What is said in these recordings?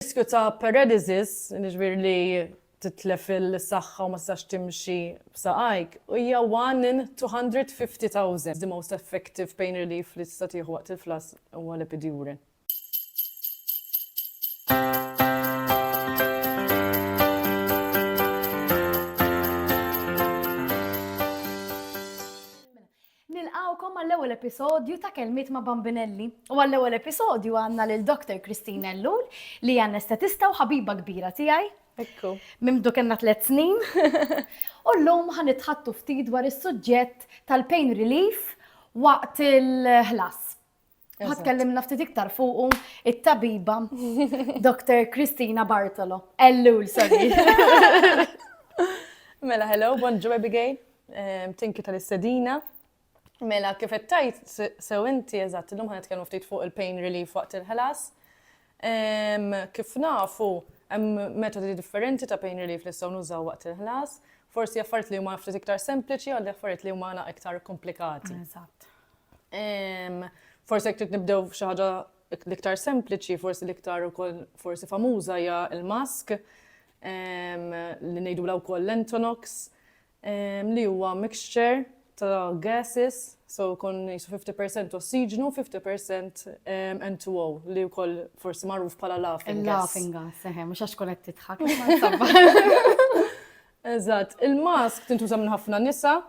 riskju ta' paralysis, jiġifieri li titlef is-saħħa u ma tistax timxi b'saqajk, hija one in 250,000. The most effective pain relief li tista' tieħu waqt il-flass huwa l-epidural. Nilqgħukom għall-ewwel episodju ta' Kelmiet ma' Bambinelli. U għall-ewwel episodju għandna lil Doctor Christine Ellul li hija anestetista u ħabiba kbira tiegħi. Ekku. Minn mdu kellna tliet snin. U llum ħa nitħaddtu ftit dwar is-suġġett tal-pain relief waqt il-ħlas. Ħad kellimna ftit iktar fuqu it-tabiba Dr. Kristina Bartolo. Ellul, sorry. Mela, hello, bonġu Abigail. Tinki tal-istedina. Mela, kif tajt sew inti eżatt, illum ħanet kellu ftit fuq il-pain relief waqt il-ħlas. Kif nafu, hemm metodi differenti ta' pain relief li sew nużaw waqt il-ħlas. Forsi affarijiet li huma ftit iktar sempliċi għal affarijiet li huma iktar komplikati. Eżatt. Forsi jekk trid nibdew f'xi ħaġa l-iktar sempliċi, forsi l-iktar ukoll forsi famuża hija l-mask li ngħidulha wkoll l-Entonox li huwa mixture ta' gases, so kon jisu 50% ossiġnu, 50% N2O li wkoll forsi magħruf bħala laughing gas. Laughing gas, eħe, mhux għax qed titħak. Eżatt, il-mask tintuża minn ħafna nisa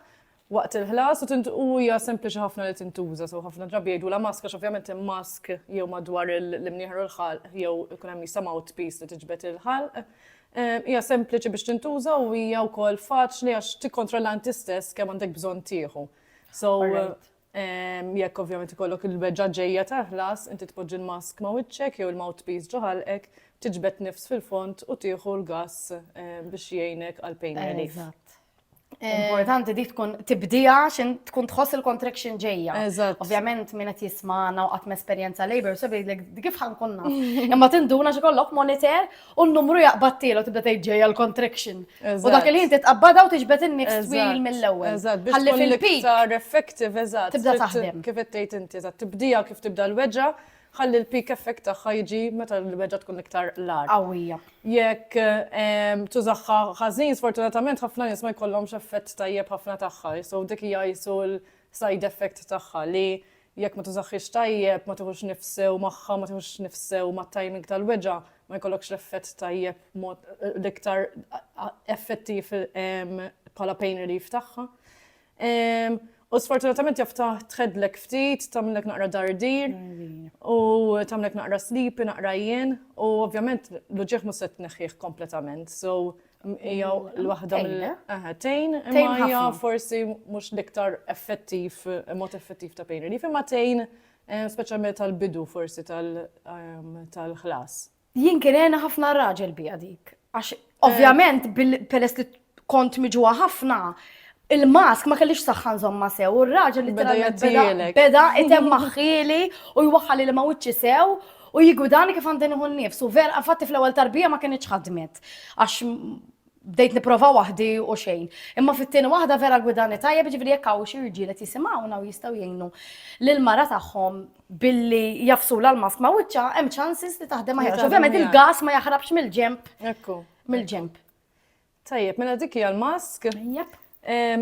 waqt il-ħlas u hija sempliċi ħafna li tintuża, so ħafna drabi jgħidulha mask għax ovvjament hemm mask jew madwar l-imnieħer u l-ħalq jew ikun hemm jista' mouthpiece li tiġbed il-ħalq. Ehm, hija sempliċi biex tintuża u hija wkoll faċli għax tikkontrolla inti stess kemm għandek bżonn tieħu. So ehm, jekk ovvjament ikollok il-beġġa ġejja ta' ħlas, inti tpoġġi l-mask ma' wiċċek jew il-mouthpiece ġo ħalqek, tiġbed nifs fil-font u tieħu l-gass ehm, biex jgħinek għal pain relief. Eh, Importanti dik tkun tibdija xin tkun tħoss il-contraction ġejja. Ovvjament minn qed jismana u qatt esperjenza labor so bidlek kif ħankun naf. Imma tinduna xi kollok monitor u n-numru jaqbattiel u tibda tgħid ġejja l-contraction. U dak il-ħin titqabbada u tiġbed in-niks twil mill-ewwel. Eżatt, biex tkun l-iktar effective, eżatt. Tibda taħdem. Kif qed tgħid inti, eżatt, tibdija kif tibda l-weġġa' Ħalli l-peak effect tagħha jiġi meta l-mewġa tkun iktar l-agħar. Qawwija. Jekk tużaħħa ħażin, sfortunatament ħafna nies ma jkollhomx effett tajjeb ħafna tagħha. So dik hija qisu l-side effect tagħha li jekk ma tużaħħiex tajjeb, ma tieħux nifs sew magħha, ma tieħux nifs sew mat-timing tal-weġa, ma jkollokx l-effett tajjeb mod l-iktar effettiv bħala pain relief tagħha. U sfortunatament jaf tħedlek ftit, tamlek naqra dardir, u tamlek naqra sleepy, naqra jien, u ovvjament l-ġieħ muset neħħieħ kompletament. So, jaw l-wahda mill-tejn, imma forsi mux liktar effettiv, mod effettiv ta' pain relief, imma tejn, specialment tal-bidu forsi tal-ħlas. Jien kien għena ħafna raġel bija dik. Għax, eh. ovvjament, peress li kont miġuwa ħafna, il-mask ma kellix saħħan zomma sew, u r-raġel li beda beda item maħħili u jwaħħali li ma wiċċi sew u jigudani kif għandin iħun nifsu. Vera, fatti fl-ewwel tarbija ma kienx ħadmet. Għax bdejt nipprova waħdi u xejn. Imma fit-tieni waħda vera gwidani tajjeb, ġifieri jekk hawn xi rġiel qed jisimgħuna u jistgħu jgħinu lill-mara tagħhom billi jafsulha l-mask ma' wiċċha, hemm chances li taħdem aħjar. Ovvjament il-gas ma jaħrabx mill-ġemp. Mill-ġemp. Tajjeb, mela dik hija l-mask. Jep.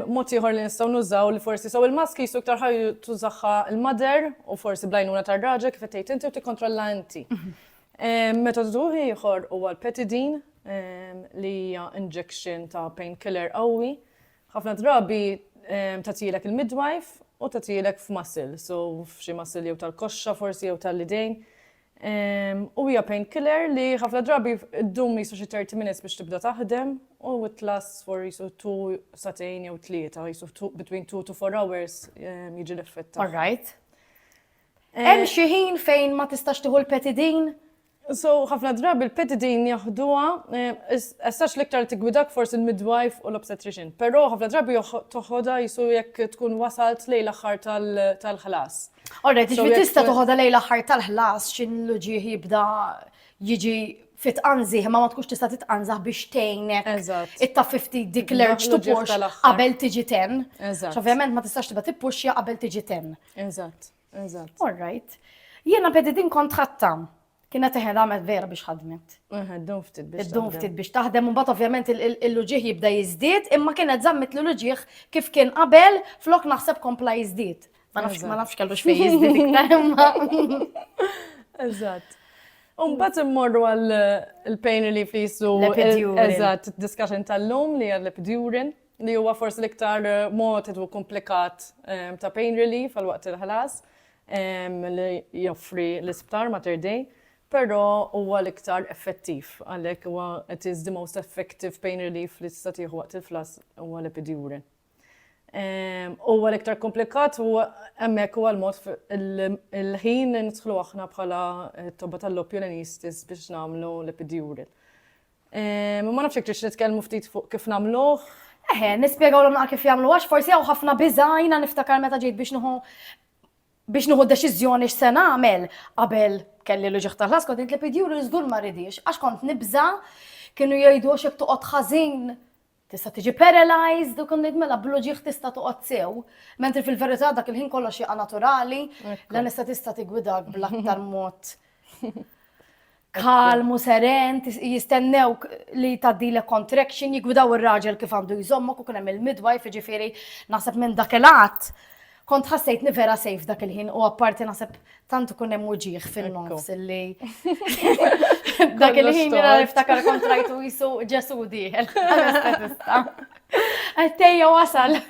Mod ieħor li nistgħu nużaw li forsi sew il-mask qisu iktar ħajr tużaha l-mother u forsi bl-għajnuna tar-raġel kif qed tgħid inti u tikkontrolla inti. Metodu ieħor huwa l-petidin li hija injection ta' pain killer qawwi. Ħafna drabi tagħtilek il-midwife u tagħtilek f'muscle, so f'xi muscle jew tal-koxxa forsi jew tal-idejn. U hija painkiller li ħafna drabi ddum jisu xi 30 minutes biex tibda taħdem u it lasts for jisu 2 satejn jew tlieta, jisu between 2 to 4 hours jiġi l-effett. All right. Hemm xi ħin fejn ma tistax tieħu l-petidin? So, ħafna drabi l-petidin jaħduha, essax l-iktar tigwidak forsi l-midwife u l-obstetrician, però ħafna drabi toħodha jisu jekk tkun wasalt lejn l-aħħar tal-ħlas. Alright, ġifieri tista' toħodha lejn l-aħħar tal-ħlas xi l-uġieħ jibda jiġi fit qanżih ma ma tkunx tista' titqanżaħ biex tgħinek itta 50 dik l-erġ tupux qabel tiġi ten. Ovvjament ma tistax tibqa' tippuxja qabel tiġi ten. Eżatt, eżatt. Alright. Jiena bedi din kont ħatta. Kienet teħen ramet vera biex ħadmet. Iddum ftit biex. Iddum ftit biex taħdem, un bat ovvjament il-luġieħ jibda jizdid, imma kienet zammit l-luġieħ kif kien qabel flok naħseb kompla jizdid. Ma nafx ma nafx kellu xfej jizdid iktar imma. Eżatt. Un bat immorru għal il-pain relief li jissu. Eżatt, discussion tal-lum li għal l-epidurin li huwa forsi l-iktar eh, mod u komplikat eh, ta' pain relief għal waqt il-ħlas. li joffri l-isptar Mater Dei, però huwa l-iktar effettiv, għalhekk huwa it is the most effective pain relief li tista' tieħu waqt il-flass huwa l-epidural. Huwa l-iktar komplikat u hemmhekk huwa l-mod il-ħin li nidħlu aħna bħala tobba tal-lobby u l-anesthetist biex nagħmlu l-epidural. Ehm, ma nafx jekk tridx nitkellmu ftit fuq kif nagħmluh. Eħe, nispjegawlhom naqa' kif jagħmlu għax forsi hawn ħafna biża' jiena niftakar meta ġejt biex nieħu biex nieħu deċiżjoni x'se nagħmel qabel kelli l-uġieħ tal-ħaskot, int li pidjuru żgur ma ridix, għax kont nibża' kienu jgħidu għax jekk toqgħod ħażin Tista' tiġi paralyzed u kont ngħid mela bl-uġigħ tista' toqgħod sew, mentri fil-verità dak il-ħin kollox jaqa' naturali, l-anestetista tigwidak bl-aktar mod kalmu, seren, jistennew li tgħaddilek contraction, jigwidaw ir-raġel kif għandu jżommok u kien hemm il-midwife, jiġifieri naħseb minn dak il-għadd Kont ħassejtni vera safe dak il-ħin u apparti naħseb tant ikun hemm uġieħ fin-nofs illi. Dak il-ħin jena niftakar kontrajtu jisu ġesu diħel. Għattejja wasal.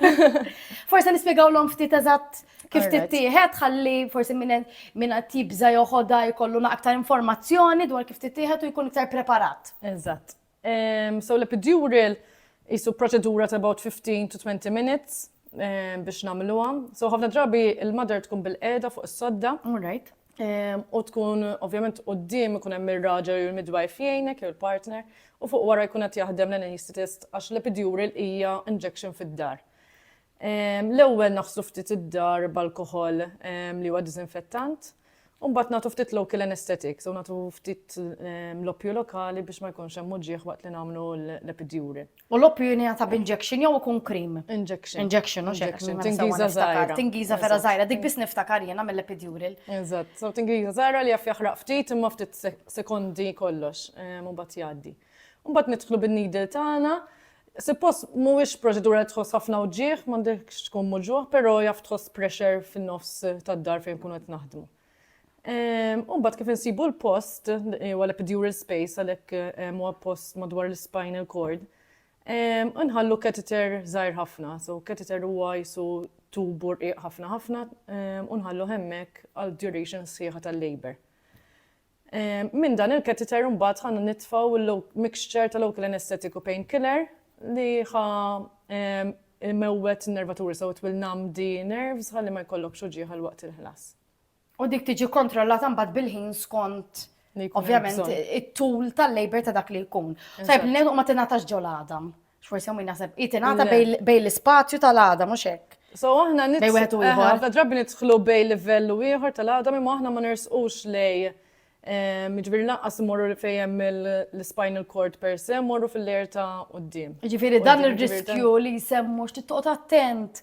Forse nispiegaw l-om ftit eżatt kif tittieħed ħalli forse minn tibza joħoda jkollu naqtar informazzjoni dwar kif tittieħed u jkun iktar preparat. Eżatt. So l-epidural jisu proċedura ta' about 15 to 20 minutes biex namluha. So ħafna drabi il-mother tkun bil-qeda fuq is-sodda. Alright. U tkun ovvjament qudiem ikun hemm ir-raġel jew il-midwife jgħinek jew il-partner u fuq wara jkun qed jaħdem l-anesthetist għax l-epidural hija injection fid-dar. L-ewwel naħslu ftit id-dar b'alkoħol li huwa diżinfettant, u mbagħad nagħtu ftit local anesthetics u nagħtu ftit l-oppju lokali biex ma jkunx hemm uġigħ waqt li nagħmlu l-epidural. U l-oppju jingħata b'injection jew ikun cream? Injection. Injection, mhux hekk? Tingiża żgħira. Tingiża vera żgħira, dik biss niftakar jiena mill-epidural. Eżatt, so tingiża żgħira li jaf jaħraq ftit imma ftit sekondi kollox u mbagħad jgħaddi. Mbagħad nidħlu bin-needle tagħna. Suppost mhuwiex proċedura li tħoss ħafna wġigħ, m'għandekx tkun muġugħ, però jaf tħoss pressure fin-nofs tad-dar fejn nkunu qed naħdmu. U mbagħad kif insibu l-post, huwa l-epidural space għalhekk huwa post madwar l-spinal cord, nħallu catheter żgħir ħafna. So catheter huwa jisu tubu rqiq ħafna ħafna u nħalluh hemmhekk għal duration sħiħa tal-labor. Minn dan il-catheter imbagħad ħa nitfgħu l-mixture ta' local anaesthetic u painkiller li ħa jmewwet in-nervaturi sew, it will numb the nerves ħalli ma jkollokx uġigħ għal waqt il-ħlas. U dik tiġi kkontrollata mbagħad bil-ħin skont ovvjament it-tul tal-labor ta' dak li jkun. Tajjeb li ngħidu ma tingħatax ġol għadam. X'forsi hawn min jaħseb hi tingħata bejn l-ispazju tal-għada mhux hekk. So aħna nitħlu ħafna drabi nidħlu bejn livell u ieħor tal-għada imma aħna ma nersqux lej ehm, Ġifiri naqqas morru li fejem l-spinal cord per se, morru fil-lejer ta' uddim. Ġifiri dan il-riskju li jisemmu x'tittoqgħod attent,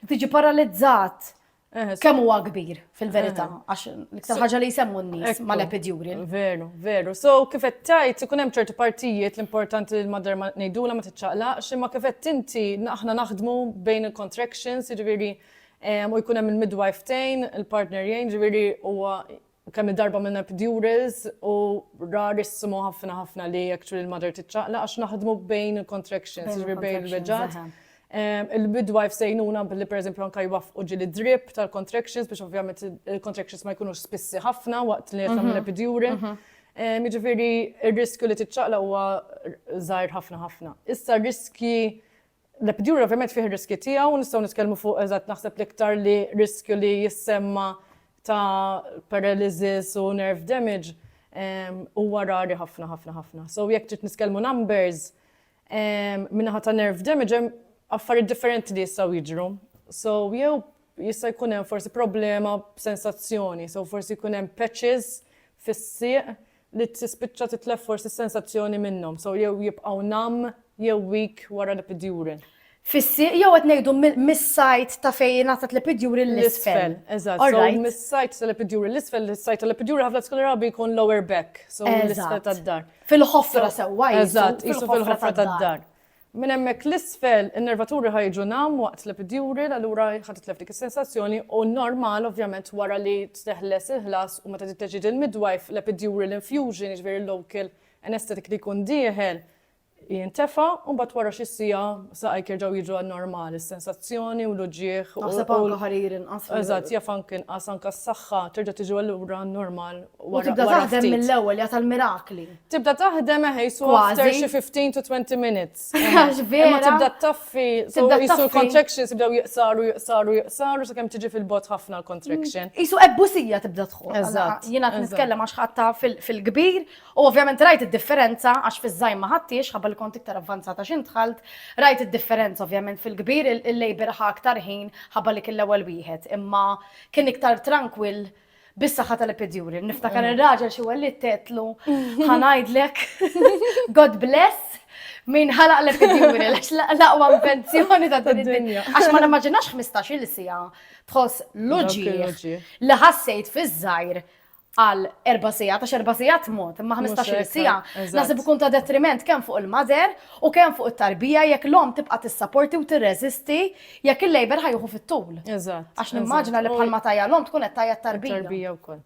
tiġi paralizzat. Eh, Kemm huwa kbir fil-verità, eh. għax l-iktar ħaġa li jsemmu n-nies mal-epidural. Veru, veru. So kif qed tajt ikun hemm ċerti partijiet l-importanti li l-madar ma ngħidula ma tiċċaqlaqx, imma kif qed inti aħna naħdmu bejn il-contractions, jiġifieri eh, u jkun hemm il-midwife tejn, il-partner jgħin, jiġifieri huwa u kemm il-darba għamilna epidurals u rarissimo ħafna ħafna li actually l-mother tiċċaqlaq għax naħdmu bejn il-contractions, jiġifieri bejn il-reġgħat. Il-midwife sejnuna billi pereżempju anke jwaffqu ġieli drip tal-contractions biex ovvjament il-contractions ma jkunux spissi ħafna waqt li qed tagħmel epidural. Jiġifieri r-riskju li tiċċaqlaq huwa żgħir ħafna ħafna. Issa r-riskji L-epidural ovvjament fih ir-riskji tiegħu, nistgħu nitkellmu fuq eżatt naħseb l-iktar li riskju li jissemma ta' paralysis u nerve damage huwa rari ħafna ħafna ħafna. So jekk trid nitkellmu numbers min-naħa ta' nerve damage hemm affarijiet differenti li jistgħu jiġru. So jew jista' jkun hemm forsi problema b'sensazzjoni, so forsi jkun hemm patches fis-sieq li tispiċċa titlef forsi s-sensazzjoni minnhom, so jew jibqgħu numb jew weak wara l-epidural. Fis-sieq jew qed ngħidu mis-side ta' fejn jingħatat l-epidural l-isfel? Eżatt, so mis-side tal-epidural l-isfel, is-side tal-epidural ħafna tkun rabi jkun lower back, so l-isfel tad-dar. Fil-ħofra sewwa, eżatt, qisu fil-ħofra tad-dar. Minn hemmhekk 'l isfel in-nervaturi ħa jiġu numb waqt l-epidural, allura ħa titlef dik is-sensazzjoni u normal ovvjament wara li teħles il-ħlas u meta titteġġieġ il-midwife l-epidural infusion, jiġifieri l-local anaesthetic li jkun dieħel jintefa' u mbagħad wara xi siegħa saqajk jerġgħu jiġu għan-normal, is-sensazzjoni u l-uġigħ u. Naħseb anke ħarir inqas. Eżatt, jaf anke inqas, anke s-saħħa terġa' tiġi allura normal wara ftit. U tibda taħdem mill-ewwel, hija tal-mirakli. Tibda taħdem eħe jisu after xi 15 to 20 minutes. Għax vera. Ma tibda taffi, tibda jisu contractions tibda jiqsaru, jiqsaru, jiqsaru, sa' kem tiġi fil-bot ħafna l-contraction. Mm. Jisu ebbusija tibda tħu. Eżatt. Jina t-nitkellem għax ħatta fil-kbir, u ovvjament rajt id-differenza għax fiż-żajm ma ħattiex, ħabba li kont iktar avvanzata xin tħalt, rajt id-differenza ovvjament fil-kbir il-labor ħa aktar ħin ħabba li kien l-ewwel wieħed, imma kien iktar tranquil Bis-saħħa tal-epiduri, niftakar ir-raġel xi wellied għedtlu ħa ngħidlek God bless min ħalaq l-epiduri għax l-aqwa invenzjoni ta' din id-dinja. Għax ma nimmaġinax 15-il siegħa tħoss l-uġieħ li ħassejt fiż-żgħir għal erba' sigħat, għax erba' sigħat mod, imma 15-il siegħa. Naħseb ikun ta' detriment kemm fuq il-mother u kemm fuq it-tarbija jekk l-omm tibqa' tissaporti u tirreżisti Jekk il-labor ħajħu fit-tul. Eżatt. Għax nimmaġina li bħalma tajja l-om tkun qed tajja tarbija. Tarbija wkoll.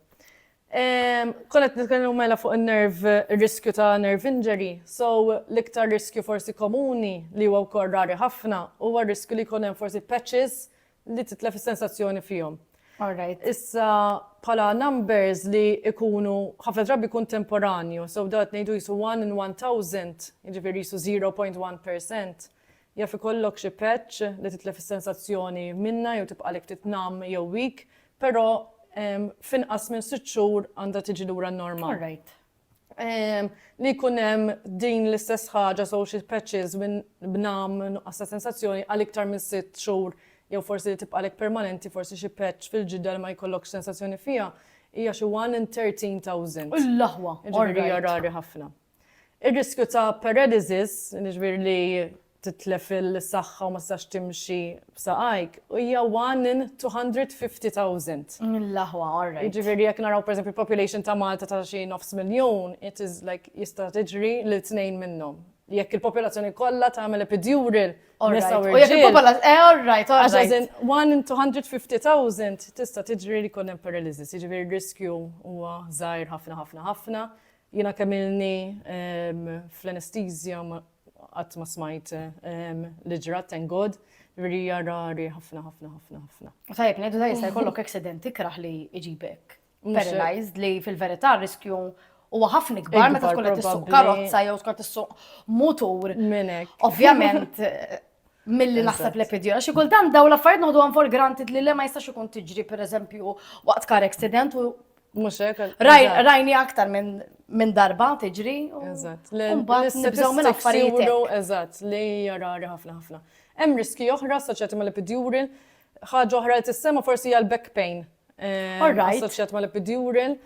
Ehm, Konet nitkellmu mela fuq il-nerv, riskju ta' nerve injury, so l-iktar riskju forsi komuni li huwa wkoll rari ħafna huwa riskju li jkun hemm forsi patches li titlef is-sensazzjoni fihom. Alright. Issa pala numbers li ikunu ħafna drabi kun temporanju, so dat nejdu jisu 1 in 1000, jiġifieri jisu 0.1%. Jaf ikollok xi patch li titlef is-sensazzjoni minnha jew tibqagħlek ftit numb jew weak, però f'inqas minn sitt xhur għandha tiġi lura n-normal. All right. Li jkun hemm din l-istess ħaġa so xi patches minn b'numb, nuqqas ta' sensazzjoni għal iktar minn sitt xhur jew forsi li tibqagħlek permanenti forsi xi patch fil-ġidda li ma jkollokx sensazzjoni fiha hija xi one in 13,000. U l-aħwa! Jiġifieri hija rari ħafna. Ir-riskju ta' paredesis, jiġifieri li titlef is-saħħa u ma tistax timxi b'saqajk, hija one in 250,000. Mill-aħwa, all right. Jiġifieri jekk naraw pereżempju l-population ta' Malta ta' xi nofs miljun, it is like jista' tiġri lil tnejn minnhom. Jekk il-popolazzjoni kollha tagħmel epidural, nisa u rġiel. U jekk il-popolazzjoni, eh all right, all right. Għax as in one in 250,000 tista' tiġri li jkun hemm paredesis, jiġifieri r-riskju huwa żgħir ħafna ħafna ħafna. Jiena kemm ilni fl-anesthesia qatt ma smajt li ġrat thank God, jiġifieri hija rari ħafna ħafna ħafna ħafna. Tajjeb ngħidu ta' jista' jkollok accident ikrah li jġibek paralysed li fil-verità r-riskju huwa ħafna ikbar meta tkun qed issuq karozza jew tkun qed issuq mutur. Minn hekk. Ovvjament milli naħseb li pidi. Xi kultant daw l-affarijiet noħdu għan for granted li le ma jistax ikun tiġri pereżempju waqt kar accident u Mux hekk. rajni aktar minn min darba tiġri. u- Eżatt. li- Mbagħad li nibżgħu minn statistics affarijiet hekk. juru, Eżatt, li hija rari ħafna ħafna. Hemm riski oħra assoċjati mal-epidural. Ħaġa oħra li tissema forsi hija l-back pain. eh, All right. Assoċjat mal-epidural.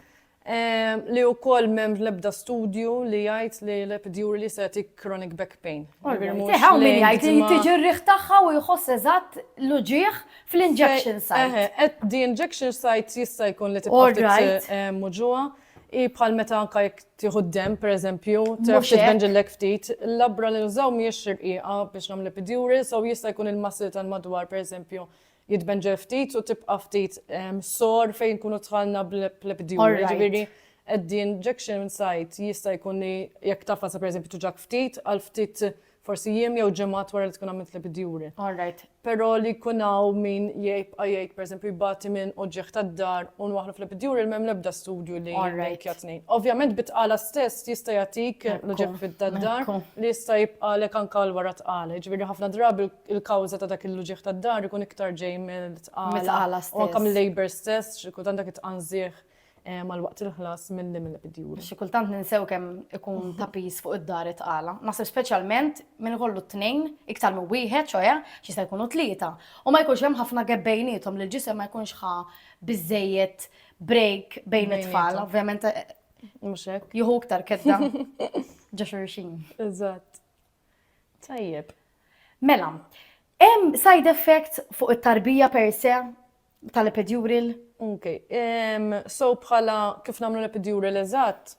Li wkoll m'hemm l-ebda studju li jgħid li l-epidurali se jagħtik chronic back pain. Hawn min jgħid li tiġi r-riħ tagħha u jħoss eżatt l-uġigħ fl-injection site. The injection site jista' jkun li tibqa' tgħid hemm uġigħ. Hi bħal meta anke jekk tieħu d-demm, pereżempju, taf titbenġillek ftit. L-abra li nużaw mhijiex rqiqa biex nagħmlu l-epidural, so jista' jkun il-muscle tal-madwar, pereżempju, jitbenġel ftit u tibqa' ftit sore fejn nkunu dħalna bl-epidural. Alright. Jiġifieri at the injection site jista' jkun li jekk tafas per eżempju tuġak ftit għal ftit forsi jiem jew ġimgħat wara li tkun għamilt l-epidural. Alright. Però li jkun hawn min jibqa' jgħid per eżempju jbati minn uġigħ tad-dahar u nwaħħlu fl-epidural m'hemm l-ebda studju li Alright. linkja t-tnejn. Ovvjament bi tqala stess jista' jagħtik l-uġigħ fid-dahar Ekku. li jista' jibqagħlek anke għal wara t-tqala. Jiġifieri ħafna drabi il-kawża ta' dak il-uġigħ tad-dahar ikun iktar ġej mill-tqala. Mit-tqala stess. U anke mill-labor stess, xi kultant dak it-tqanżigħ eh, mal-waqt il-ħlas mill-li mill-bidjur. Xi kultant ninsew kemm ikun ta' pis fuq id-dar it-tqala. Naħseb speċjalment minn ikollu t-tnejn iktar minn wieħed, ċoja, xi se jkunu tlieta. U ma jkunx hemm ħafna gap bejnietom li l-ġisem ma jkunx ħa biżejjed break bejn it-tfal. Bejnietom. Ovvjament eh, Mhux hekk? jieħu iktar kedda ġa xurxin. Eżatt. Tajjeb. Mela, hemm side effects fuq it-tarbija per se tal-epidural? Ok, ehm, so bħala kif nagħmlu l-epidural eżatt,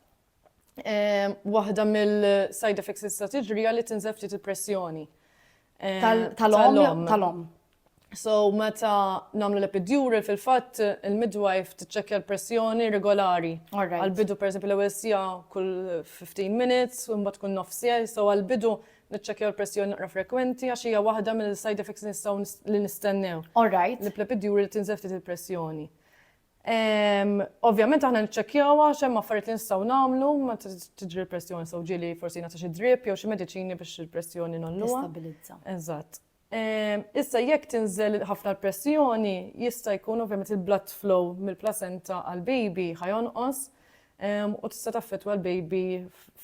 ehm, waħda mill-side effects li tista' tiġri hija li tinżel ftit il-pressjoni. Ehm, Tal-om, tal-om. So meta nagħmlu l-epidural fil-fatt il-midwife tiċċekkja l-pressjoni regolari. Għal-bidu pereżempju l-ewwel sija kull 15 minutes u mbagħad kull nofs sija, so għal-bidu niċċekkjaw il-pressjoni naqra frekwenti għax hija waħda mill-side effects li nistgħu li nistennew. Alright. Li plepidjuri li tinżel ftit il-pressjoni. Ehm, ovvjament aħna niċċekkjawha x'hemm affarijiet li nistgħu nagħmlu ma tiġri l-pressjoni sew ġieli forsi nagħti xi drip jew xi mediċini biex il-pressjoni nolluha. Stabilizza. Eżatt. Issa jekk tinżel ħafna l-pressjoni jista' jkun ovvjament il-blood flow mill-placenta għall-baby ħa jonqos u tista' taffettwa l-baby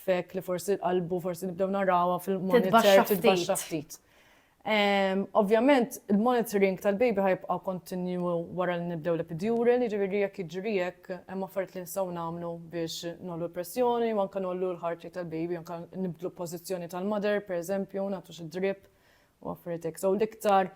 f'hekk li forsi qalbu forsi nibdew narawha fil-monitor titbaxxa ftit. Ovvjament il-monitoring tal-baby ħa jibqa' kontinwu wara li nibdew l-epidural, jiġifieri jekk jiġri hekk hemm affarijiet li nistgħu nagħmlu biex ngħollu l-pressjoni u anke ngħollu l-heart rate tal-baby anke nibdlu l-pożizzjoni tal-mother pereżempju nagħtu xi drip u affarijiet hekk. So l-iktar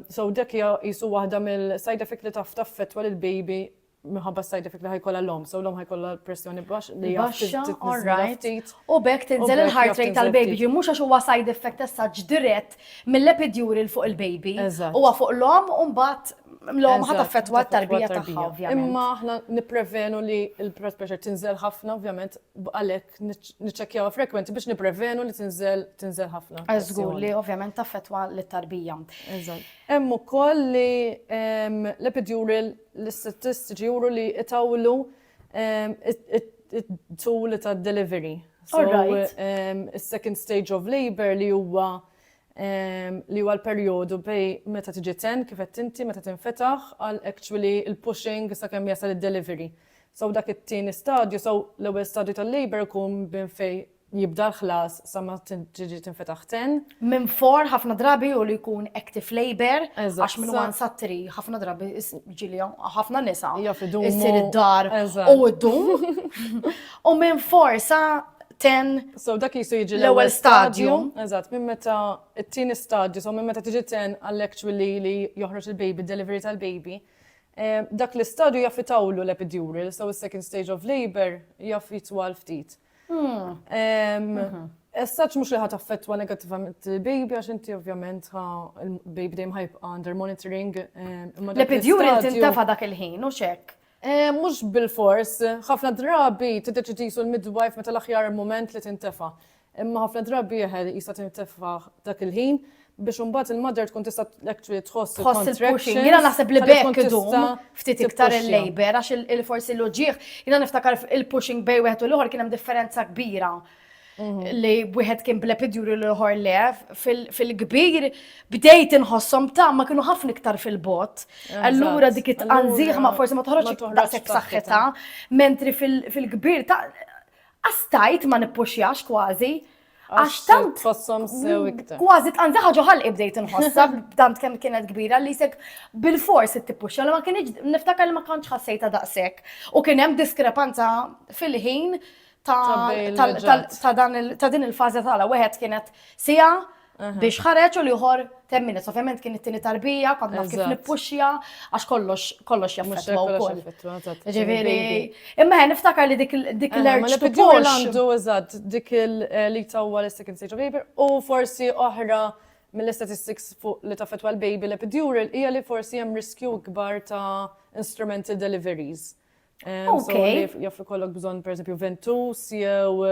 so dak hija qisu waħda mill-side effect li taf taffettwa lil baby minħabba side effect li ħajkolla l-om, so l-om ħajkolla pressjoni baxx li baxxa, all right. U bekk tinżel il-heart rate tal-baby, ġi mhux għax huwa side effect essaġġ dirett mill-epiduril fuq il-baby, huwa fuq l-om u mbagħad l-om ħat affettwa t-tarbija tagħha ovvjament. Imma aħna nipprevenu li l-blood pressure tinżel ħafna ovvjament Għalhekk niċċekkjawha frekwenti biex nipprevenu li tinżel tinżel ħafna. Żgur li ovvjament taffettwa lit-tarbija. Eżatt. Hemm ukoll li l-epidural l-istatistiċi juru li itawlu it-tul tad-delivery. Is-second stage of labour li huwa li huwa l-perjodu bejn meta tiġi ten kif qed inti meta tinfetaħ għal actually l-pushing sakemm jasal id-delivery. So dak it-tieni stadju, so l-ewwel stadju tal-labour ikun minn fejn jibda l-ħlas sa ma tiġi tinfetaħ ten. Minn for ħafna drabi u li jkun active labor, għax minn wan sa tri ħafna drabi ġili ħafna nisa. Isir id-dar u id-dum. U minn for sa ten. So dak jisu jiġi l-ewwel stadju. Eżatt, minn meta t-tieni stadju, so minn meta tiġi ten għall-actually li joħroġ il-baby, delivery tal-baby. Dak l-istadju jaf itawlu l-epidural, so is-second stage of labor jaf jitwal ftit. Essaċ mux li ħat affettwa negativament il-baby, għax inti ovvjament il-baby dejjem ħajbqa under monitoring. L-epidural tintafa dak il-ħin, u xek? Mux bil-fors, ħafna drabi t-deċidisu l-midwife meta l-aħjar moment li tintafa. Imma ħafna drabi eħe jista' tintefa' dak il-ħin biex imbagħad il-mother tkun tista' actually tħoss Tħoss il-pushing. Jiena naħseb li b'hekk idum ftit iktar il-labour għax il-forsi l-uġigħ. Jiena niftakar il-pushing bejn wieħed u l-ieħor kien hemm differenza kbira li wieħed kien bl-epidural u l-ieħor le. Fil-kbir bdejt inħosshom ta' ma kienu ħafna iktar fil-bot. Allura dik it-tqanżiħ ma forsi ma toħroġx daqshekk saħħitha, mentri fil-kbir ta' As tajt ma nippuxjax kważi. Għax tant. Tfossom sew iktar. Kważi tqanza ħaġa ħalqi bdejt inħossha tant kemm kienet kbira li sek bil-fors it-tippuxja li ma kienx niftakar li ma kontx ħassejta daqshekk. U kien hemm diskrepanza fil-ħin ta' din il-fażi tagħla wieħed kienet sija biex ħareġ u liħor temmina. Ovvjament kien it-tini tarbija, kont naf kif nippuxja, għax kollox kollox jaffetwa u koll. Ġiviri, imma ħen niftakar li dik eh, l-erġ tibol. għandu, eżat, dik eh, li tawwa l-second stage of labor u forsi oħra mill-statistics fuq li taffetwa l-baby l-epidural hija li forsi hemm riskju ikbar ta' instrumental deliveries. Okej. Jaf ikollok bżonn pereżempju ventus jew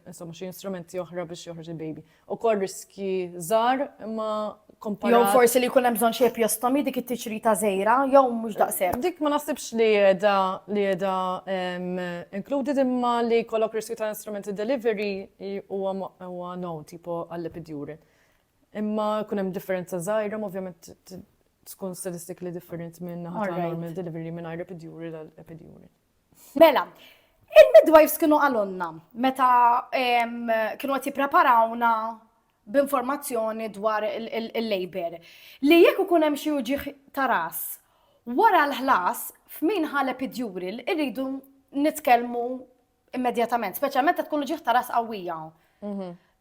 insomma xi instrumenti oħra biex joħroġ il-baby. Ukoll riski żgħar imma komparat. Jew forsi li jkun hemm bżonn xi epjostomi dik it-tixrita żgħira jew mhux daqshekk. Dik ma naħsibx li qiegħda li qiegħda included imma li jkollok riskju ta' instrument ta' delivery huwa known tipo għall-epidural. Imma jkun hemm differenza żgħira, ma ovvjament tkun statistically different minn naħa ta' normal delivery minn għajr epidural għal epidural. Mela, il-midwives kienu għalonna meta kienu għati preparawna b'informazzjoni dwar il-labor li jekk ikun hemm xi uġiħ ta' ras wara l-ħlas f'min ħal epidural irridu nitkellmu Immedjatament, speċjalment qed tkun l-uġieħ ta' ras qawwija.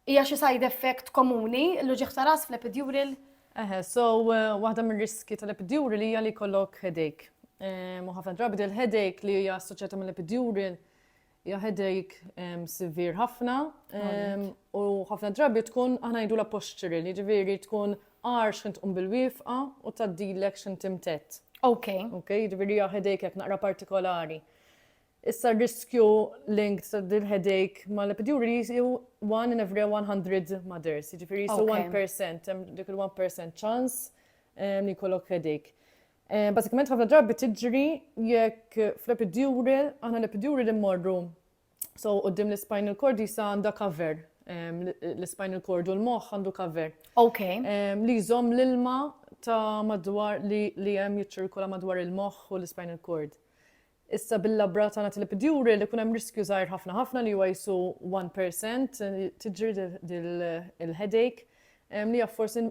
Hija xi side effect komuni l-uġieħ ta' ras fl-epidural? Eħe, so eh, waħda mir-riski tal-epidural hija li jkollok headache. Eh, u ħafna drabi del headache li hija assoċjata mill-epidural hija headache ehm, severe ħafna ehm, u ħafna drabi tkun aħna jdu la posture li ġifieri tkun għar xint tqum bil-wifqa u taddilek xint imtett. Ok. Ok, ġifieri hija headache jekk naqra partikolari. Issa r-riskju linked ta' din il-headache mal-epidural hi one in every 100 mothers, jiġifieri qisu 1%, hemm dik il-one percent ċans li jkollok headache. Bażikament ħafna drabi tiġri jekk fl-epidural, aħna l-epidural immorru, so quddiem l-ispinal cord qisha għandha cover, l-ispinal cord u l-moħħ għandu cover. Li jżomm l-ilma ta' madwar li hemm jiċċirkola madwar il-moħħ u l-ispinal cord. Issa bil-labra tagħna tilipid juri li jkun hemm riskju żgħir ħafna ħafna li huwa qisu 1% tiġri il-headache li jaf forsi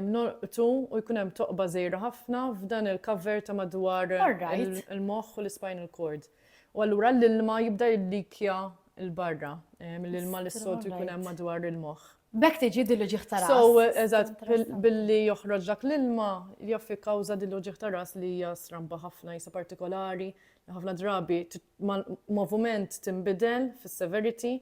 norqtu u jkun hemm toqba żgħira ħafna f'dan il-cover ta' madwar il-moħħ u l-spinal cord. U allura l-ilma jibda jillikja l-barra mill-ilma li s-soltu jkun hemm madwar il-moħħ. B'hekk tiġi diluġiħ ta' ras. So, eżatt, billi joħroġ dak l-ilma, jaffi kawża diluġiħ ta' ras li hija stramba ħafna jisa partikolari, ħafna drabi moviment timbidel fis-severity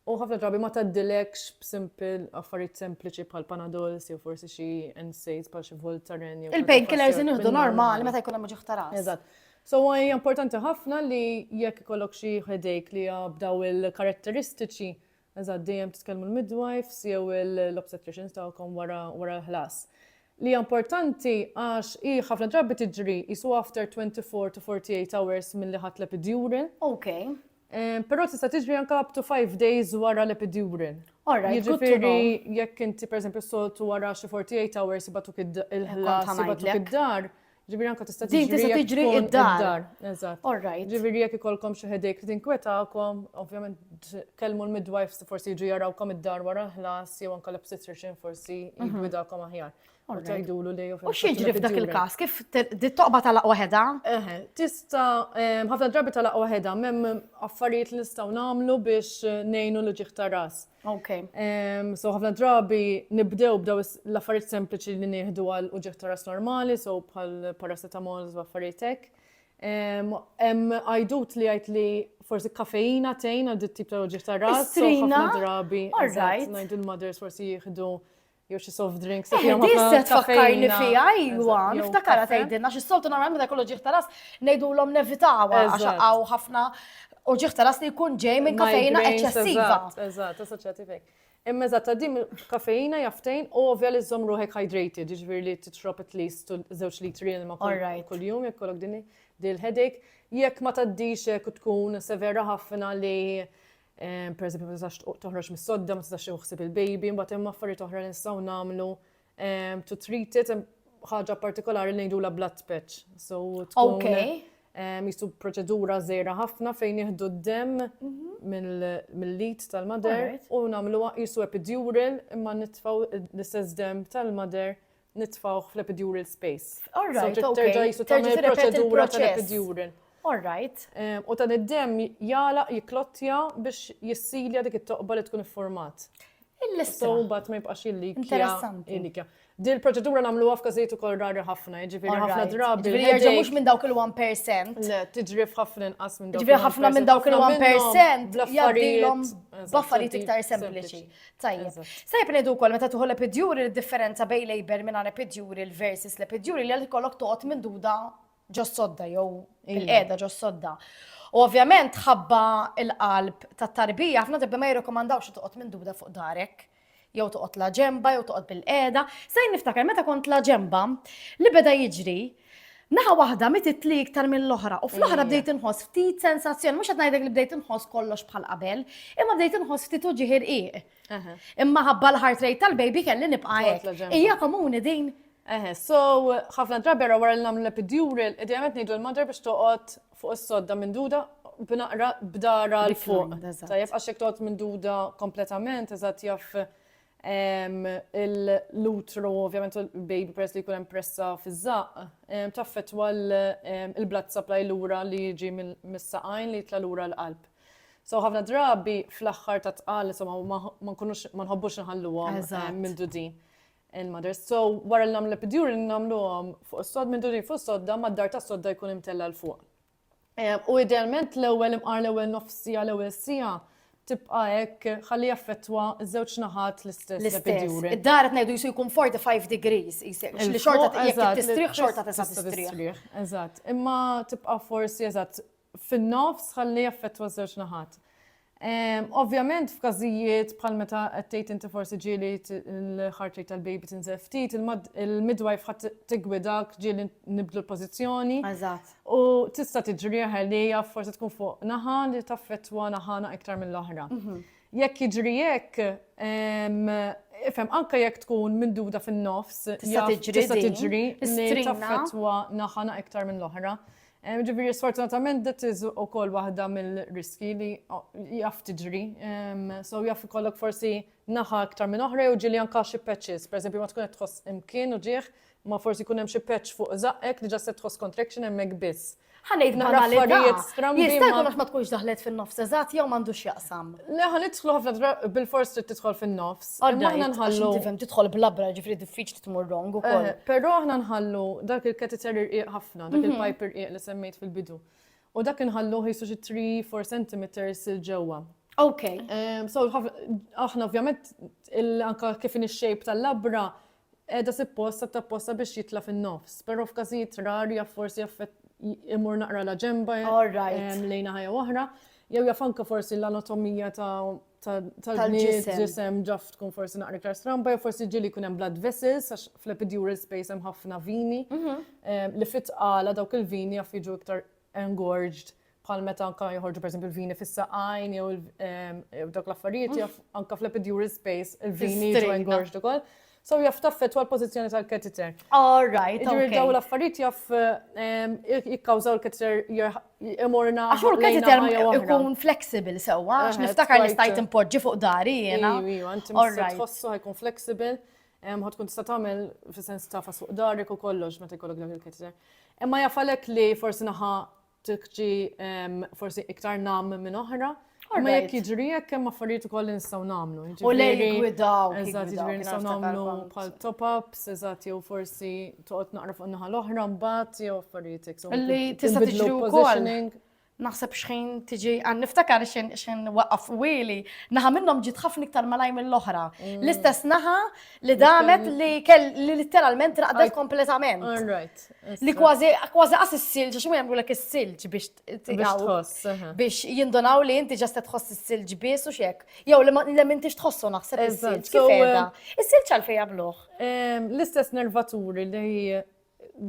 u ħafna drabi ma taddilekx b'simple affarijiet sempliċi bħal panadols jew forsi xi NSAIDs bħal xi Voltaren. Il-painkillers inħdu normali meta jkun hemm ġuħ ta' ras. Eżatt. So hija importanti ħafna li jekk ikollok xi headache li b'daw il-karatteristiċi Eżatt, dejjem titkellmu l-midwives jew l-obstetricians tagħkom wara wara l-ħlas. Li hija importanti għax hi ħafna drabi tiġri qisu after 24 to 48 hours milli ħadt l-epidural. Okay. Ehm, però tista' tiġri anke up to 5 days wara l-epidural. Alright, good to know. Jiġifieri jekk inti pereżempju s-soltu wara xi 48 hours ibatuk il-ħlas, ibatuk id-dar, Ġifieri anke tista' tiġri. Din tista' tiġri id-dar. Eżatt. All right. Ġifieri jekk ikolkom xi ħedejk li tinkwetakom, ovvjament kellmu l-midwives forsi jiġu jarawkom id-dar wara ħlas jew anke l-obstetrician forsi mhm. jgwidakom aħjar. U tgħidulu li U x'jiġri f'dak il-każ? Kif toqba talaq waħedha? Eħe, tista' ħafna drabi talaq waħedha, m'hemm affarijiet li nistgħu nagħmlu biex ngħinu l-ġieħ ta' ras. Ok. So ħafna drabi nibdew b'daw l-affarijiet sempliċi li nieħdu għal uġektoras normali, so bħal paracetamol u affarijiet hekk. Hemm għajdut li għajt li forsi kafeina tejn għal dit tip ta' uġektoras, so ħafna drabi. All right. Ngħidu l-mothers forsi jieħdu Jew xi soft drinks. Eh, di se tfakkarni fija, ajwa, niftakara tgħidilna xi soltu nagħmel meta kollu ġieħ taras ngħidulhom nevitawa għax hawn ħafna u ġieħ taras li jkun ġej minn kafejna eċċessiva. Eżatt, assoċjativek. Imma eżatt, ta' din kafejna jaftejn u ovvja li żżomm ruħek hydrated, jiġifieri li tixrob at least żewġ litri ma kuljum jekk kollok din dil-headache. Jekk ma taddix jekk tkun severa ħafna li Pereżempju, ma tistax toħroġ mis-sodda, ma tistax iħsib il-baby, mbagħad hemm affarijiet oħra li nistgħu nagħmlu to treat it, ħaġa partikolari li ngħidulha blood patch. So tkun jisu proċedura żejra ħafna fejn jieħdu d-dem mhm. mill-lit tal-mader u nagħmluha jisu epidural imma nitfgħu l-istess dem tal-mader nitfgħuh fl-epidural space. All right, so terġa' jisu tagħmel proċedura tal-epidural. All right. U dan id-dem jala jiklottja biex jissilja dik it-toqba li tkun ifformat. Il-lista. So bat ma jibqax il-likja. Interessanti. Dil proċedura namlu għaf kazijiet u koll rari ħafna, ġifiri ħafna drabi. Ġifiri ġa mux minn dawk il-1%. Le, tiġrif ħafna nqas minn dawk il-1%. Ġifiri ħafna minn dawk il-1% jaddilom baffariet iktar sempliċi. Tajjeb. Sajb ngħidu wkoll meta tuħu l-epidjuri l-differenza bejn labor minn l-epidjuri l-versus l-epidjuri li għal kollok toqgħod minn duda ġos sodda jew il-qeda ġos sodda. U ovvjament ħabba il-qalb ta' tarbija ħafna drabi ma jirrekomandawx toqgħod minn duda fuq darek jew toqgħod la ġemba jew toqgħod bil-qeda. Sajn niftakar meta kont la ġemba li beda jiġri Naħa waħda mitt itli iktar mill-oħra u fl-oħra bdejt inħoss ftit sensazzjoni, mhux qed ngħidlek li bdejt inħoss kollox bħal qabel, imma bdejt inħoss ftit uġieħ irqiq. Imma ħabba l-heart rate tal-baby kelli nibqa' hekk. Hija komuni din. Eħe, so ħafna drabi ra wara l-namlu l-epidural, idejament ngħidu l-mother biex toqgħod fuq is-sodda minn duda b'naqra b'dara l-fuq. Tajjeb għax jekk toqgħod minn duda kompletament, eżatt jaf l-utru ovvjament u l-baby peress li jkun hemm pressa fiż-żaqq, taffettwa l-blood supply lura li jiġi mis-saqajn li jitla' lura l-qalb. So ħafna drabi fl-aħħar tat-tqal insomma ma nkunux ma nħobbux inħalluhom mindudin il-mothers. So wara li nagħmlu l-epidural nagħmluhom fuq is-sod mindudin fuq is-sodda mad-dar tas-sodda jkun imtella' 'l fuq. u idealment l-ewwel imqar l-ewwel nofs siegħa l-ewwel siegħa tibqa' hekk ħalli jaffettwa ż-żewġ naħat l-istess epidure. Id-dar qed ngħidu jisu jkun 45 degrees isek, li xorta jekk tistrieħ xorta tista' tistrieħ. Eżatt, imma tibqa' forsi eżatt fin-nofs ħalli jaffettwa ż-żewġ naħat. Ovvjament f'każijiet bħal meta qed tgħid inti forsi ġieli l-heart rate tal-baby tinżel ftit, il-midwife ħadd tiggwidak ġieli nibdlu l-pożizzjoni. Eżatt. U tista' tiġri li hija forsi tkun fuq naħa li taffettwa naħana iktar mill-oħra. Mhm. Jekk jiġri hekk, ifhem anke jekk tkun minduda fin-nofs, tista' tiġri. Tista' tiġri li taffettwa naħana iktar mill-oħra. Ġifieri sfortunatament that is ukoll waħda mill-riskji li jaf tiġri. So jaf ikollok forsi naħa iktar minn oħra jew ġieli anke xi patches, pereżempju ma tkun qed tħoss imkien u ġieħ, ma forsi jkun hemm xi patch fuq żaqqek li ġa se tħoss contraction hemmhekk biss. Ħanejt naqra affarijiet strambi. Jista' jkun għax ma tkunx daħlet fin-nofs eżatt jew m'għandux x'jaqsam. Le ħa nidħlu ħafna bil-fors trid tidħol fin-nofs. Imma aħna nħallu. Tifhem tidħol blabra ġifri diffiċli tmur wrong ukoll. Eh, però aħna nħallu dak il-catheter irqiq ħafna, dak mhm. il-pipe irqiq li semmejt fil-bidu. U dak inħallu ħisu xi 3-4 cm il-ġewwa. Ok. Eh, so, aħna ovvjament, anka kif in shape tal-labra, Qiegħda sippost sa tapposta biex jitla' fin-nofs, però f'każijiet rari jaf forsi imur naqra la ġenba lejn naħa jew oħra, jew jaf anke forsi l-anatomija ta' tal-ġisem ġaf tkun forsi naqra iktar stramba, jew forsi ġieli jkun hemm blood vessels, għax fl-epidural space hemm ħafna vini, li fit-tqala dawk il-vini jaf jiġu iktar engorged bħal meta anka joħorġu per esempio l-vini fis-saqajn jew dawk l-affarijiet jaf anka fl-epidural space il-vini jiġu engorged ukoll. So jaf taffetwa l-pożizzjoni tal-catheter. All right. Ġifieri daw l-affarijiet jaf jikkawżaw l-catheter imorna. Għax ur catheter ikun flexible sewwa, għax niftakar li stajt impoġġi fuq dari jiena. Iva, inti tħossu ħajkun flexible. Ħa tkun tista' tagħmel fis-sens tafas fuq darek u kollox meta jkollok dak il-catheter. Imma jafalek li forsi naħa tikġi forsi iktar nam minn oħra. Ma jekk jiġri jekk hemm affarijiet ukoll li nistgħu nagħmlu. U lej gwidaw. Eżatt, jiġri nistgħu nagħmlu bħal top-ups, eżatt jew forsi toqgħod naqra fuq naħa l-oħra mbagħad jew affarijiet hekk. Li tista' tiġri wkoll. Naħseb xħin tiġi, għan niftakar xħin waqaf wili, naħa minnom ġit ħafna iktar malaj mill-oħra. Mm. L-istess naħa li damet li kell li literalment raqdet kompletament. Li kważi kważi għas s-silġ, xum jgħamlu l-ek s-silġ biex biex jindonaw li inti ġastet tħoss s-silġ bis u xiek. Jow li l-min tix tħossu naħseb s-silġ. Kif eh, Is-silġ għalfej jabluħ? L-istess nervaturi li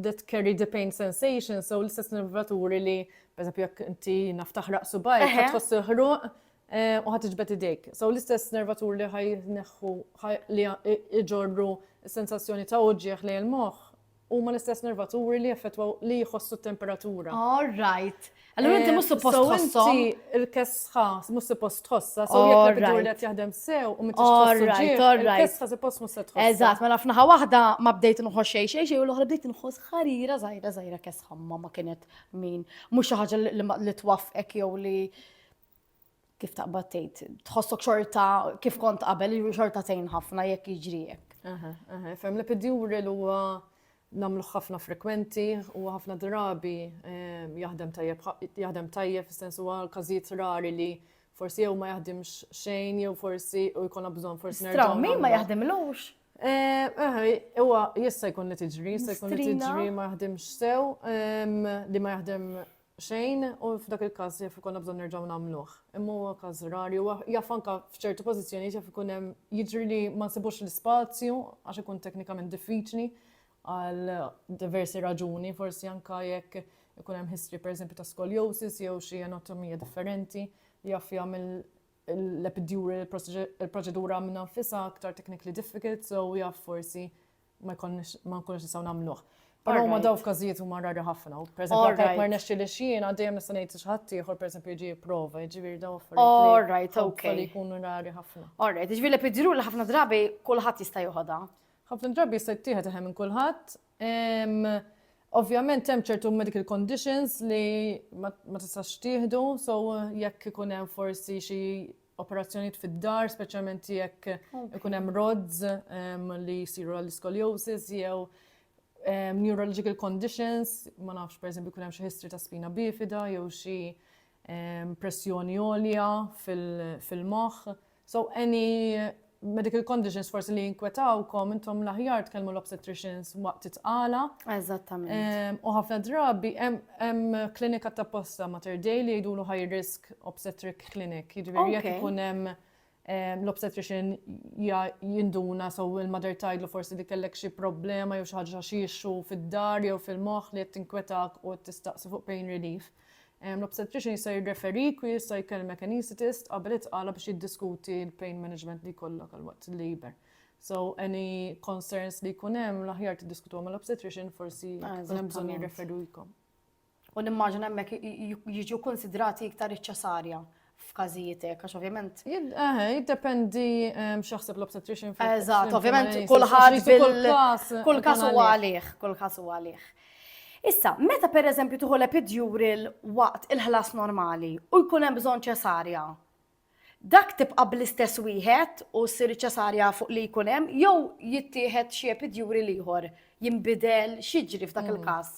that carry the pain sensation, so l-istess nervaturi li, per eżempju, jekk inti naf taħraq subaj, Eħe. tħoss il-ħruq eh, u ħat iġbed idejk. So l-istess nervaturi li ħaj neħħu ħaj- li i- iġorru sensazzjoni ta' uġieħ li l-moħħ huma l-istess nervaturi li effettwaw li jħossu t-temperatura. All right. Allura inti mhux suppost tħossom. Il-kesħa mhux suppost tħossha, so jekk il-bidur li qed jaħdem sew u mhux tħossha. Il-kesħa suppost mhux se tħossha. Eżatt, mela f'naħa waħda ma bdejt nħoss xejn xejn xejn u l-oħra bdejt nħoss ħarira żgħira żgħira kesħa ma kienet min. Mhux xi ħaġa li twaffqek jew li kif taqbad tgħid, tħossok xorta kif kont qabel, xorta tgħin ħafna jekk jiġri hekk. Fem li pidjuri l huwa namlu ħafna frekwenti u ħafna drabi ehm, jaħdem tajjeb, jaħdem tajjeb fis-sens huwa każijiet rari li forsi jew ma jaħdimx xejn jew forsi u jkun bżonn forsi nerġa'. Straw min ma jaħdimlux? Ehm, ehm, huwa jista' jkun li tiġri, jista' jkun li tiġri ma jaħdimx sew, li ma jaħdem xejn u f'dak il-każ jaf ikollna bżonn nerġgħu nagħmluh. Imma huwa każ rari u jaf anke f'ċerti pożizzjonijiet jaf ikun hemm jiġri li ma nsibux l-ispazju għax ikun teknikament diffiċli għal diversi raġuni, forsi anke jekk ikun hemm history pereżempju ta' scoliosis jew xi anatomija differenti li jaf jagħmel l-epidural il-proċedura minn nfisha aktar technically difficult, so jaf forsi ma jkollniex ma nkunux nistgħu nagħmluh. Però huma daw f'każijiet huma rari ħafna. Pereżempju, jekk ma rnexxi li xien għaddejjem nista' ngħid xi ħadd ieħor pereżempju jiġi jipprova, jiġifieri daw affarijiet. All right, okay. Li jkunu rari ħafna. All right, jiġifieri li pidru li ħafna drabi kulħadd jista' joħodha. Ħafna drabi jista' jittieħed eħem minn kulħadd. Ovvjament hemm ċertu medical conditions li ma tistax tieħdu, so jekk ikun hemm forsi xi operazzjonijiet fid-dar, speċjalment jekk ikun hemm rods li jsiru għall-scoliosis jew neurological conditions, ma nafx pereżempju jkun hemm xi history ta' spina bifida jew xi pressjoni għolja fil-moħħ. So any Medical conditions forsi li jinkwetawkom, intom l-aħjar tkellmu l-obstetricians waqt titqala. Eżattament. U ħafna drabi hemm klinika ta' posta ma' terdej li jgħidulu high risk obstetric clinic, jiġifieri jekk ikun hemm l-obstetrician jinduna so il-mother tajdlu forsi li kellek xi problema jew xi ħaġa xi issue fid-dar jew fil-moħħ li qed tinkwetak u tistaqsi fuq pain relief. L-obstetrician jista' jirreferik u jista' jkellmek anaesthetist qabel it-tqala biex jiddiskuti l-pain management li jkollok għal waqt il-labor. So any concerns li jkun hemm l-aħjar tiddiskutuhom mal-obstetrician forsi jkun hemm bżonn jirreferikom. U nimmaġina hemmhekk jiġu konsidrati iktar iċ-ċesarja f'każijiet hekk, għax ovvjament. Eh, jiddependi ehm, x'jaħseb l-obstetrician fil Eżatt, ovvjament kulħadd kull każ huwa għalih, kull każ huwa għalih. Issa, meta per eżempju tuħu l-epidural waqt il-ħlas normali u jkun hemm bżonn ċesarja, dak tibqa' bl-istess wieħed u ssir ċesarja fuq li jkun hemm jew jittieħed xi epidjuri ieħor jinbidel xiġri f'dak mm. il-każ.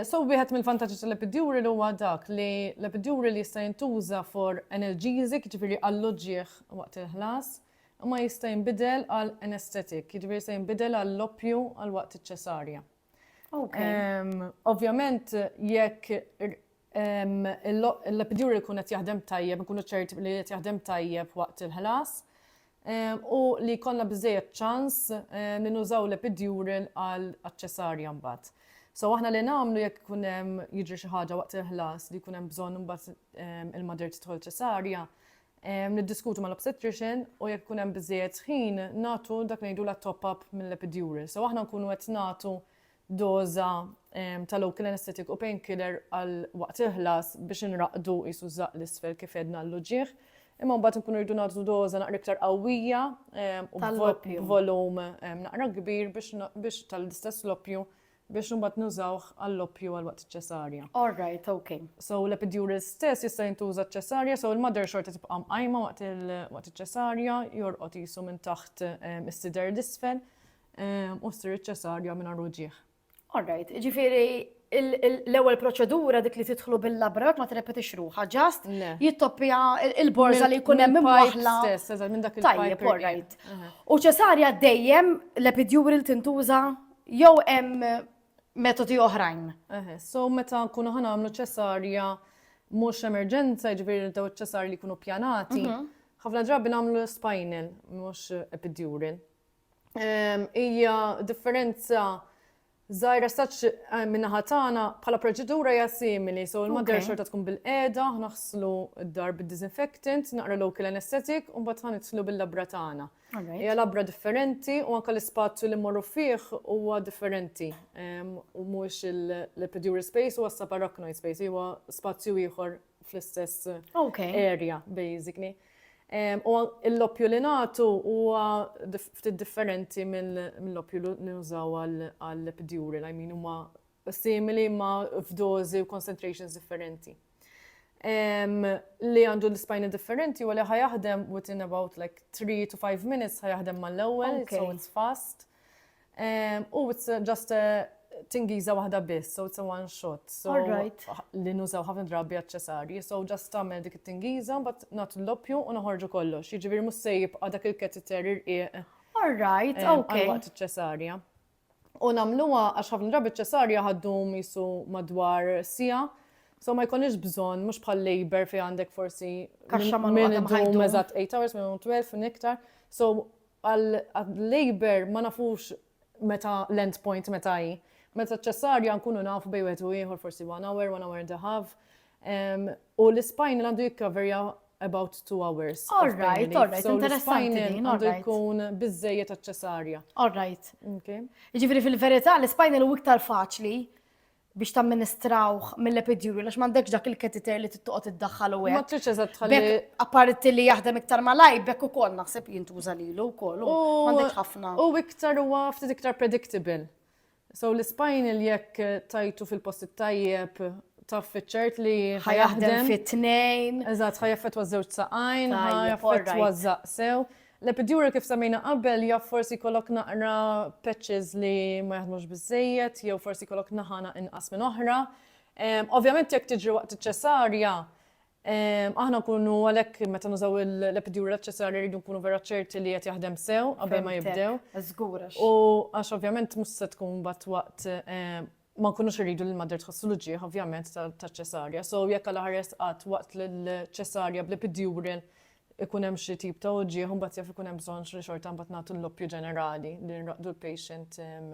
So wieħed mill-vantaġġi tal-epidural huwa dak li l-epidural jista' jintuża for analgesic, jiġifieri għall-uġigħ waqt il-ħlas, imma jista' jinbidel għal anaesthetic, jiġifieri jista' jinbidel għall-oppju għal waqt iċ-ċesarja. Ovvjament jekk l-epidural ikun qed jaħdem tajjeb, inkunu ċerti li qed jaħdem tajjeb waqt il-ħlas, u li jkollna biżżejjed ċans li nużaw l-epidural għal ċesarja mbagħad. So aħna li nagħmlu jekk ikun hemm jiġri xi ħaġa waqt il-ħlas li jkun hemm bżonn imbagħad il-mader tidħol ċesarja, niddiskutu mal-obstetrician u jekk ikun hemm biżejjed ħin nagħtu dak ngħidu la top-up mill-epidural. So aħna nkunu qed nagħtu doża ta' local anesthetic u painkiller għal waqt il-ħlas biex inraqqdu qisu żaqq l-isfel kif għedna l-uġigħ. Imma mbagħad inkunu rridu nagħtu doża naqra iktar qawwija u b'volum naqra kbir biex tal-istess l-oppju biex imbagħad nużawh għall-oppju għal waqt iċ-ċesarja. All right, okay. So l-epidural stess jista' jintuża ċ-ċesarja, so l-mother xorta tibqa' mqajma waqt iċ-ċesarja, jorqod qisu minn taħt is-sider l-isfel. u ssir iċ-ċesarja mingħajr uġigħ. All right, ġifieri l-ewwel proċedura dik li tidħlu bil-labrat ma tirrepetix ruħha, ġast jittoppija il-borża li jkun hemm imwaħla. Tajjeb, all right. U ċesarja dejjem l-epidjuri li tintuża jew hemm metodi oħrajn. So meta nkunu ħana għamlu ċesarja mhux emerġenza, ġifieri daw ċesarji li jkunu pjanati, mhm. ħafna drabi nagħmlu spinal mhux epidural. hija differenza Zajra saċ eh, minnaħa tagħna bħala proċedura hija simili, so l-madra xorta tkun bil-qeda, naħslu d-dar bid-disinfectant, naqra local anesthetic, u mbagħad ħanitlu bil-labra tagħna. Hija labra differenti u anke l-ispazju li mmorru fih huwa differenti. U mhux l-epidural space huwa saparachnoid space, huwa spazju ieħor fl-istess area, basically. U l-loppju li nagħtu huwa ftit differenti mill-loppju li nużaw għall-epidural, I mean huma simili ma f'dożi u concentrations differenti. Li għandu l-ispajna differenti huwa li ħajaħdem within about like 3 to 5 minutes ħajaħdem mal-ewwel, so it's fast. U it's just a tingiza waħda biss, so it's a one shot. So, li nużaw ħafna drabi għacċesarji, so just tamel dik it-tingiza, but not l-loppju u noħorġu kollox. Jiġifieri mhux se jibqa' dak il-keteter irqiq. All right, okay. Waqt iċ-ċesarja. U nagħmluha għax ħafna drabi ċ-ċesarja ħaddum jisu madwar sija. So ma jkunix bżonn mhux bħal labor fi għandek forsi kaxxa ma' minn 8 hours minn 12 u niktar. So Għal-Labour ma nafux meta l-end point meta hi. Meta ċ-Ċesarja nkunu nafu bejn wieħed u ieħor forsi one hour, one hour and a half. U l-ispinal għandu jikkaverja about two hours. All right, all right, interessanti. Għandu jkun bizzejiet għal-ċesarja. All right. Ġifiri fil-verita, l-spinal u iktar faċli. biex tamministrawh mill-epidural, għax m'għandekx dak il-ketiter li tittoqgħod iddaħħal u hekk. Ma tridx eżatt tħalli. Apparti li jaħdem iktar malaj, bekk ukoll naħseb jintuża lilu wkoll. M'għandekx ħafna. U iktar huwa ftit iktar predictable. So l-spinal jekk tajtu fil-post tajjeb taf fiċċert li ħajaħdem fit-tnejn. Eżatt, ħajaffet waż-żewġ saqajn, ħajaffet waż-żaqsew. L-epidural kif semmejna qabel jaf forsi jkollok naqra patches li ma jaħdmux biżżejjed jew forsi jkollok naħana inqas minn oħra. Ovvjament jekk tiġri waqt iċ-ċesarja, aħna nkunu għalhekk meta nużaw l-epidural ċesarja rridu nkunu vera ċerti li qed jaħdem sew qabel ma jibdew. Żgur. U għax ovvjament mhux se tkun bat waqt ma nkunux irridu li l-madder tħossu l-uġieħ ovvjament taċ-ċesarja. So jekk għal ħares qatt waqt l-ċesarja bl-epidural ikun hemm xi tip ta' uġieħ u mbagħad jaf ikun hemm bżonn li xorta mbagħad nagħtu l-loppju ġenerali li nraqdu l-patient ehm,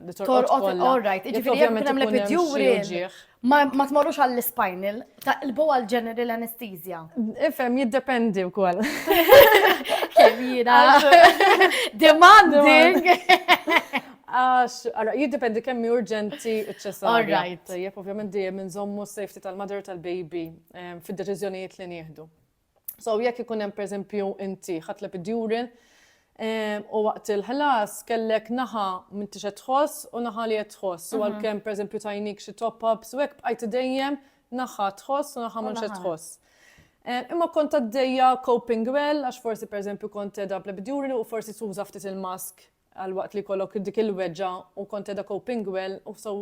li torqod kollha. All right, jiġifieri jekk hemm l-epidural ma tmorrux għall-spinal, taqlbu għal general anesthesia. Ifem, jiddependi u koll. Kemina. Demanding. Għax, għara, jiddependi kemm hi urġenti ċ-ċessarja. All right. Tajjeb, ovvjament dejjem inżommu s-safety tal-mother tal-baby ehm, fid-deċiżjonijiet li nieħdu. So, jekk ikun hemm pereżempju inti ħadd l-epidural, ehm, u waqt il-ħlas kellek naħa minn tixed tħoss u naħa li qed tħoss. U mhm. għalkemm pereżempju tajnik xi top-ups u hekk bqajt dejjem naħa tħoss u naħa minn xed tħoss. Eh, imma kont għaddejja coping well, għax forsi per eżempju kont edha bl u forsi tuża ftit il-mask Għalwaqt li jkollok dik il-weġġa' u kont qiegħda coping well u so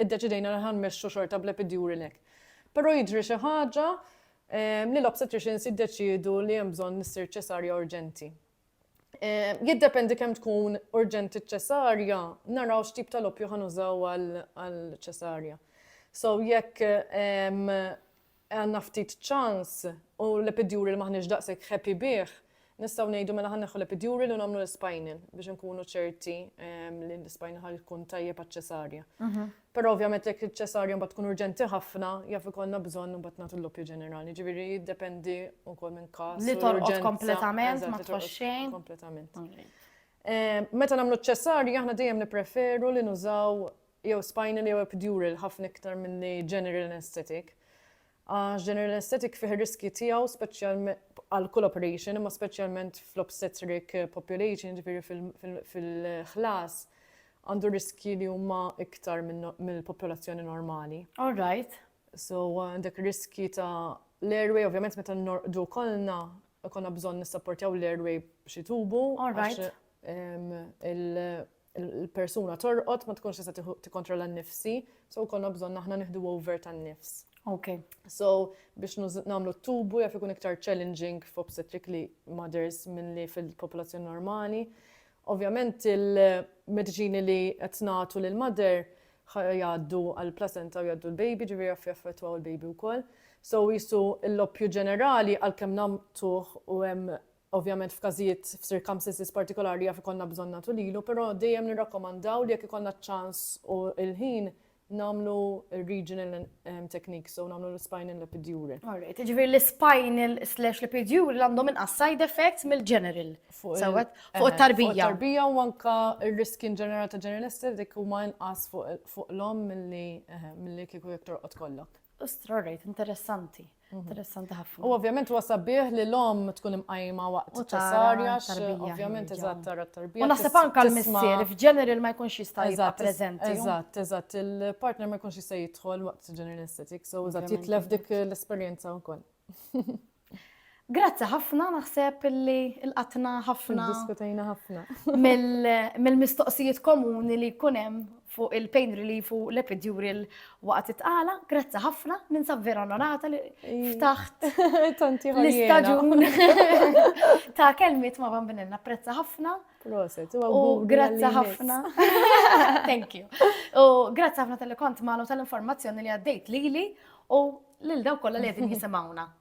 iddeċidejna li ħa nmexxu xorta bl-epidural hekk. Però jiġri xi ħaġa li l-obstetricians jiddeċiedu li hemm bżonn li ssir ċesarja urġenti. Jiddependi kemm tkun urġenti ċ-ċesarja, naraw x'tip tal-oppju ħa nużaw għall-ċesarja. So jekk għandna ftit ċans u l-epiduri li m'aħniex daqshekk happy bih, nistgħu ngħidu mela ħa nneħħu l-epiduri li u nagħmlu l-spinal biex inkunu ċerti li l-spinal ħa jkun tajjeb għaċ-ċesarja. Però ovvjament jekk iċ-ċesarja mbagħad tkun urġenti ħafna, jaf ikollna bżonn imbagħad nagħtu l-loppju ġenerali. Ġifieri jiddependi wkoll minn każ. Li torqod kompletament ma tħoss xejn. Kompletament. Meta nagħmlu ċ-ċesarja aħna dejjem nippreferu li nużaw jew spinal jew epidural ħafna iktar milli general anaesthetic għax general anaesthetic fih ir-riskji tiegħu għal kull operation imma speċjalment fl-obstetric population ġifieri fil-ħlas għandu riskji li huma iktar mill-popolazzjoni normali. All right. So għandek riskji ta' l-airway, ovvjament meta norqdu kollna konna bżonn nissapportjaw l-airway b'xi tubu. All right. il-persuna torqod ma tkunx tista' tikkontrolla n-nifsi, so konna bżonn aħna nieħdu over tan-nifs. Ok. So, biex namlu t-tubu jaf ikun iktar challenging f'obstetrically mothers minn li fil-popolazzjoni normali. Ovvjament il-medicini li qed nagħtu lil mother jgħaddu għal placenta u jgħaddu l-baby ġifieri jaf jaffettwa l-baby wkoll. So jisu l-loppju ġenerali għalkemm namtuħ u hemm Ovvjament f'każijiet, f'circumstances partikolari jaf ikollna bżonn nagħtu lilu, però dejjem nirrakkomandaw li jekk ikollna ċ-ċans u l-ħin nagħmlu r-regional techniques u nagħmlu l-spinal l-epidural. All right, jiġifieri l-spinal slash l-epidural għandhom inqas side effects mill-general. Sewwa? Fuq it-tarbija. Fuq it-tarbija u anke r-riskji in ġenerali ta' general anesthetic huma inqas fuq l-omm milli kieku jekk torqod kollok. All right, interessanti. Interessanti ħafna. U ovvjament huwa sabiħ li l-om tkun imqajma waqt ċessarja, ovvjament eżatt tara t-tarbija. U naħseb anke l-missier f'ġeneral ma jkunx jista' jibqa' preżenti. Eżatt, eżatt, il-partner ma jkunx jista' jidħol waqt ġeneral estetik, so eżatt jitlef dik l-esperjenza wkoll. Grazzi ħafna naħseb li l-qatna ħafna. Diskutajna ħafna. Mill-mistoqsijiet komuni li jkun hemm fuq il-pain relief u l-epidural waqt it-tqala, grazzi ħafna, ninsab vera onorata li ftaħt. Tanti l-istaġun ta' kelmiet ma' bambinin, napprezza ħafna. Proset, u grazzi ħafna. Thank you. U grazzi ħafna tal-li kont maħnu tal-informazzjoni li għaddejt li li u lil daw kolla li għedin jisimawna.